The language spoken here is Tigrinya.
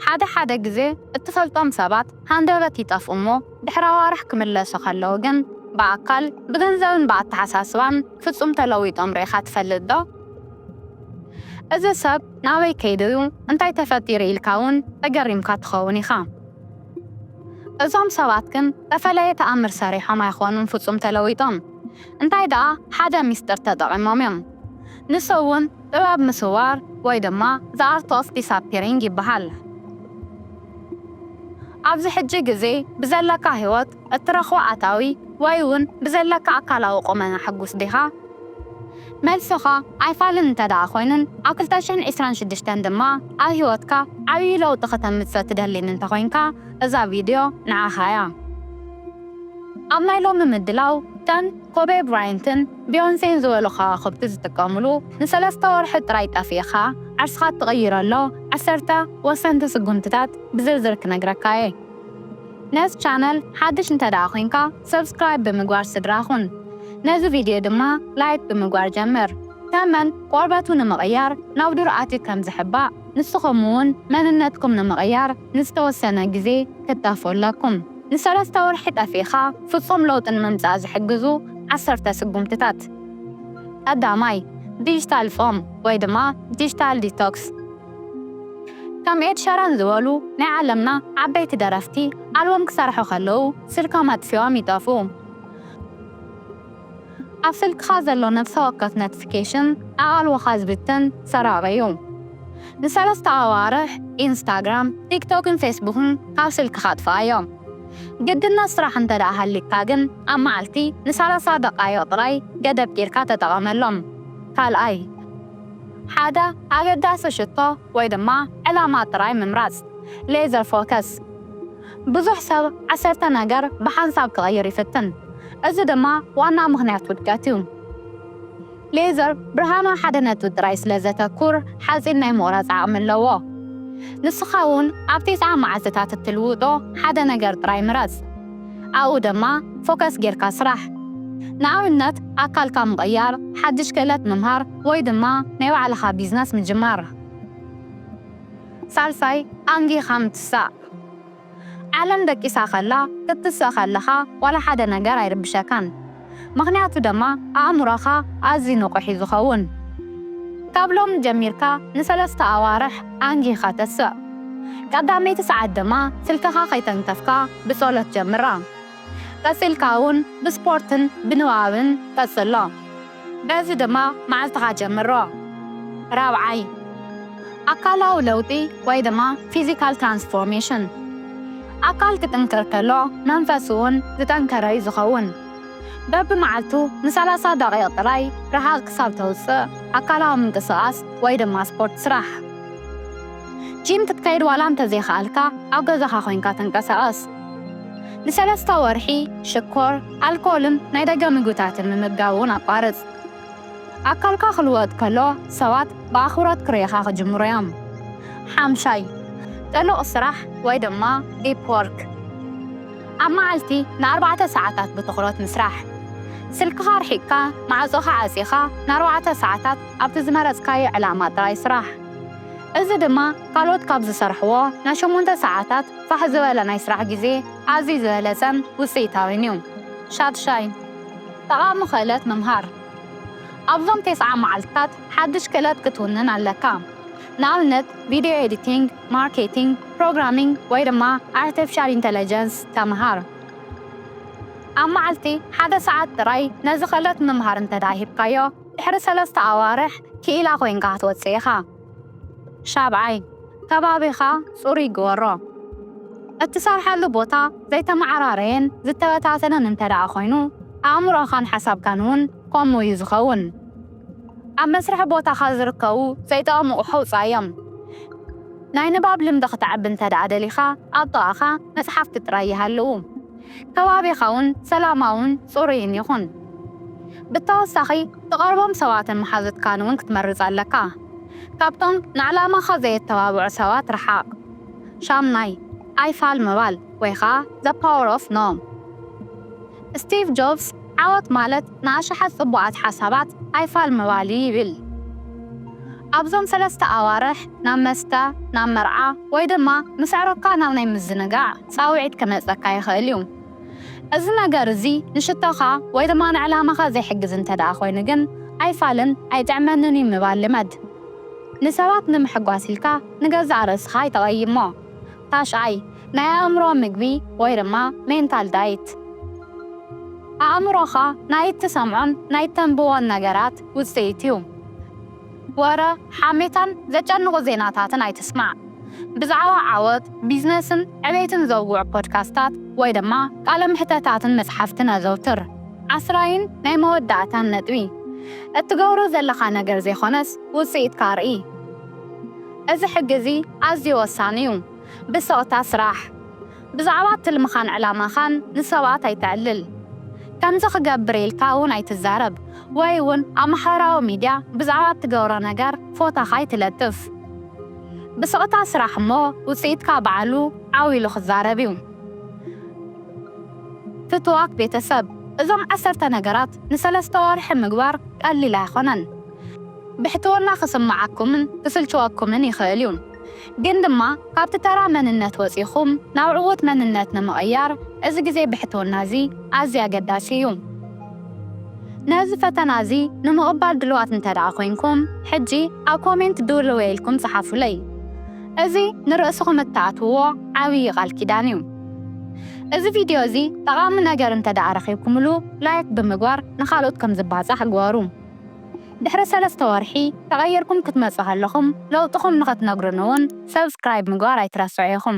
ሓደ ሓደ ግዜ እትፈልጦም ሰባት ሃንደበት ይጠፍኡ እሞ ድሕሪ ኣዋርሕ ክምለሱ ከለዉ ግን ብኣካል፣ ብገንዘብን ብኣተሓሳስባን ፍጹም ተለዊጦም ርኢኻ ትፈልጥ ዶ? እዚ ሰብ ናበይ ከይዱ እዩ እንታይ ተፈጢሩ ኢልካ እውን ተገሪምካ ትኸውን ኢኻ። እዞም ሰባት ግን ተፈለየ ተኣምር ሰሪሖም ኣይኮኑን ፍጹም ተለዊጦም እንታይ ደኣ ሓደ ሚስጥር ተጠቒሞም እዮም ንሱ እውን ጥበብ ምስዋር ወይ ድማ The Art of Disappearing ይበሃል። ኣብዚ ሕጂ ግዜ ብዘለካ ህይወት፣ እትረኽቦ ኣታዊ ወይ ውን ብዘለካ ኣካላዊ ቁመና ሕጉስ ዲኻ? መልስኻ ኣይፋልን እንተድኣ ኮይኑን ኣብ ክልተ ሽሕን ዕስራን ሽዱሽተን ድማ ኣብ ህይወትካ ዓብዪ ለውጢ ክተምጽእ ትደሊን እንተኾይንካ እዛ ቪድዮ ንዓኻ እያ። ኣብ ናይ ሎሚ ምድላው ከም ኮቤ ብራይንትን፣ ቢዮንሴን ዝበሉ ከዋኽብቲ ዝጥቀምሉ ንሰለስተ ወርሒ ጥራይ ጠፊእኻ ዓርስኻ እትቕይረሎ ዓሰርተ ወሰንቲ ስጉምትታት ብዝርዝር ክነግረካ እየ። ነዚ ቻነል ሓድሽ እንተድኣ ኮይንካ ሰብስክራይብ ብምግባር ስድራ ኩን። ነዚ ቪድዮ ድማ ላይክ ብምግባር ጀምር። ተመን ቆርበቱ ንምቕያር ናብ ዱር ኣትዩ ከም ዝሕባእ ንስኹም እውን መንነትኩም ንምቕያር ንዝተወሰነ ግዜ ክታፍ ኣላኩም። ንሰለስተ ወርሒ ጠፊእኻ ፍጹም ለውጢ ንምምጻእ ዝሕግዙ ዓሰርተ ስጉምትታት። ቀዳማይ፣ ዲጂታል ጾም ወይ ድማ ዲጂታል ዲቶክስ። ከም ኤድ ሸራን ዝበሉ ናይ ዓለምና ዓበይቲ ደረፍቲ ኣልበም ክሰርሑ ከለዉ ስልኮም ኣጥፊኦም ይጠፍኡ። ኣብ ስልክኻ ዘሎ ነፍሰ ወከፍ ነትፊኬሽን ኣቓልቦኻ ዝብትን ሰራቒ እዩ። ንሰለስተ ኣዋርሕ ኢንስታግራም፣ ቲክቶክን ፌስቡክን ካብ ስልክኻ ኣጥፍኣዮም። ግድነት ስራሕ እንተድኣ ሃልዩካ ግን ኣብ መዓልቲ ንሳላሳ ደቓይቕ ጥራይ ገደብ ጌርካ ተጠቐመሎም። ካልኣይ፣ ሓደ ኣገዳሲ ሽቶ ወይ ድማ ዕላማ ጥራይ ምምራጽ፣ Laser Focus። ብዙሕ ሰብ ዓሰርተ ነገር ብሓንሳብ ክቕይር ይፍትን፣ እዚ ድማ ዋና ምኽንያት ውድቀት እዩ። ሌዘር ብርሃን ኣብ ሓደ ነጥቢ ጥራይ ስለ ዘተኩር ሓጺን ናይ ምቑራጽ ዓቕሚ ኣለዎ። ንስኻ እውን ኣብ ቴስዓ መዓልትታት እትልውጦ ሓደ ነገር ጥራይ ምረጽ፣ ኣብኡ ድማ ፎከስ ጌርካ ስራሕ። ንኣብነት ኣካልካ ምቕያር፣ ሓድሽ ክእለት ምምሃር፣ ወይ ድማ ናይ ባዕልኻ ቢዝነስ ምጅማር። ሳልሳይ፣ ኣንጊኻ ምትሳእ። ዓለም ደቂሳ ከላ ክትስእ ከለኻ ዋላ ሓደ ነገር ኣይርብሸካን ምኽንያቱ ደማ ኣእምሮኻ ኣዝዩ ንቁሕ እዩ ዝኸውን ካብ ሎሚ ጀሚርካ ንሰለስተ ኣዋርሕ ኣንጊህኻ ተስእ ቀዳመይቲ ሰዓት ደማ ስልክኻ ከይተንከፍካ ብጾሎት ጀምራ ቀጺልካ ውን ብስፖርትን ብንባብን ቀጽሎ። በዚ ድማ መዓልትኻ ጀምሮ። ራብዓይ፣ ኣካላዊ ለውጢ ወይ ድማ ፊዚካል ትራንስፎርሜሽን፣ ኣካል ክጥንክር ከሎ መንፈስ'ውን ዝጠንከረ'ዩ ዝኸውን። በብመዓልቱ ንሰላሳ ደቒቕ ጥራይ ርሓቕ ክሳብ ተውጽእ ኣካላዊ ምንቅስቓስ ወይ ድማ ስፖርት ስራሕ። ጂም ክትከይድ ዋላ እንተዘይከኣልካ ኣብ ገዛኻ ኮይንካ ተንቀሳቐስ። ንሰለስተ ወርሒ ሽኮር፣ ኣልኮልን ናይ ደገ ምግብታትን ምምጋብ እውን ኣቋርጽ። ኣካልካ ክልወጥ ከሎ ሰባት ብኣኽብሮት ክርእዩኻ ክጅምሩ እዮም። ሓምሻይ፣ ጥሉቕ ስራሕ ወይ ድማ ዲፕ ዎርክ፣ ኣብ መዓልቲ ንኣርባዕተ ሰዓታት ብትኹረት ምስራሕ። ስልክኻ ኣርሒቕካ ማዕጾኻ ዓጺኻ ንኣርባዕተ ሰዓታት ኣብቲ ዝመረጽካዮ ዕላማ ጥራይ ስራሕ። እዚ ድማ ካልኦት ካብ ዝሰርሕዎ ናይ ሸሞንተ ሰዓታት ፋሕ ዝበለ ናይ ስራሕ ግዜ፣ ኣዝዩ ዝበለጸን ውጽኢታዊን እዩ። ሻድሻይ፣ ጠቓሚ ክእለት ምምሃር። ኣብዞም ተስዓ መዓልትታት ሓድሽ ክእለት ክትውንን ኣለካ። ንኣብነት ቪድዮ ኤዲቲንግ፣ ማርኬቲንግ፣ ፕሮግራሚንግ ወይ ድማ ኣርቲፊሻል ኢንተለጀንስ ተምሃር። ኣብ መዓልቲ ሓደ ሰዓት ጥራይ ነዚ ክእለት ምምሃር እንተድኣ ሂብካዮ፣ ድሕሪ ሰለስተ ኣዋርሕ ክኢላ ኮይንካ ክትወጽእ ኢኻ። ሻብዓይ፣ ከባቢኻ ጽሩይ ግበሮ። እትሰርሓሉ ቦታ ዘይተመዓራረየን ዝተበታተነን እንተድኣ ኾይኑ፣ ኣእምሮኻን ሓሳብካን እውን ከምኡ እዩ ዝኸውን። ኣብ መስርሒ ቦታኻ ዝርከቡ ዘይጠቕሙ ኣቑሑ ኣውጽኣዮም። ናይ ንባብ ልምዲ ኽተዕቢ እንተድኣ ደሊኻ፣ ኣብ ጥቓኻ መጽሓፍቲ ጥራይ ይሃልዉ። ከባቢኻውን ሰላማውን ጽሩይን ይኹን። ብተወሳኺ ትቐርቦም ሰባትን መሓዙትካን እውን ክትመርጽ ኣለካ። ካብቶም ንዕላማኻ ዘየተባብዑ ሰባት ርሓቕ። ሻምናይ፣ ኣይፋል ምባል ወይ ኸኣ The Power of No። ስቲቭ ጆብስ ዓወት ማለት ንኣሽሓት ጽቡቓት ሓሳባት ኣይፋል ምባል እዩ ይብል። ኣብዞም ሰለስተ ኣዋርሕ ናብ መስተ፣ ናብ መርዓ ወይ ድማ ምስ ኣዕሩኽካ ናብ ናይ ምዝንጋዕ፣ ጻውዒት ክመጸካ ይኽእል እዩ። እዚ ነገር እዚ ንሽቶኻ ወይ ድማ ንዕላማኻ ዘይሕግዝ እንተድኣ ኮይኑ ግን፣ ኣይፋልን፣ ኣይጥዕመንን እዩ ምባል ልመድ። ንሰባት ንምሕጓስ ኢልካ ንገዛእ ርእስኻ ኣይተቐይሞ። ታሽዓይ፣ ናይ ኣእምሮ ምግቢ ወይ ድማ ሜንታል ዳይት። ኣእምሮኻ ናይ እትሰምዖን ናይ እተንብቦን ነገራት ውጽኢት እዩ። ወረ፣ ሓሜታን ዘጨንቑ ዜናታትን ኣይትስማዕ። ብዛዕባ ዓወት፣ ቢዝነስን ዕቤትን ዘውግዑ ፖድካስታት ወይ ድማ ቃለ መሕተታትን መጽሓፍትን ኣዘውትር። ዓስራይን ናይ መወዳእታን ነጥቢ፣ እትገብሮ ዘለኻ ነገር ዘይኮነስ ውጽኢትካ ኣርኢ። እዚ ሕጊ እዚ ኣዝዩ ወሳኒ እዩ። ብስቕታ ስራሕ። ብዛዕባ ትልምኻን ዕላማኻን ንሰባት ኣይተዕልል። ከምዚ ክገብር ኢልካ እውን ኣይትዛረብ ወይ እውን ኣብ ማሕበራዊ ሚድያ ብዛዕባ እትገብሮ ነገር ፎታኻ ኣይትለጥፍ። ብስቕታ ስራሕ እሞ ውፅኢትካ ባዕሉ ዓው ኢሉ ክዛረብ እዩ። ፍቱዋት ቤተሰብ፣ እዞም ዓሰርተ ነገራት ንሰለስተ ወርሒ ምግባር ቀሊል ኣይኾነን። ብሕትውና ክስመዓኩምን ክስልችወኩምን ይኽእል እዩ። ግን ድማ ካብቲ ተራ መንነት ወጺኹም ናብ ዕዉት መንነት ንምቕያር እዚ ግዜ ብሕትውና እዚ ኣዝዩ ኣገዳሲ እዩ። ነዚ ፈተና እዚ ንምቕባል ድሉዋት እንተድኣ ኮይንኩም ሕጂ ኣብ ኮሜንት ድውልውየ ኢልኩም ጽሓፉለይ። እዚ ንርእስኹም እትኣትውዎ ዓብዪ ቃል ኪዳን እዩ። እዚ ቪድዮ እዚ ጠቓሚ ነገር እንተድኣ ረኺብኩምሉ ላይክ ብምግባር ንኻልኦት ከም ዝባጻሕ ግበሩ። ድሕሪ ሰለስተ ወርሒ ተቀይርኩም ክትመጹ ከለኹም ለውጥኹም ንኽትነግሩኒ ውን Subscribe ምግባር ኣይትረስዑ ኢኹም።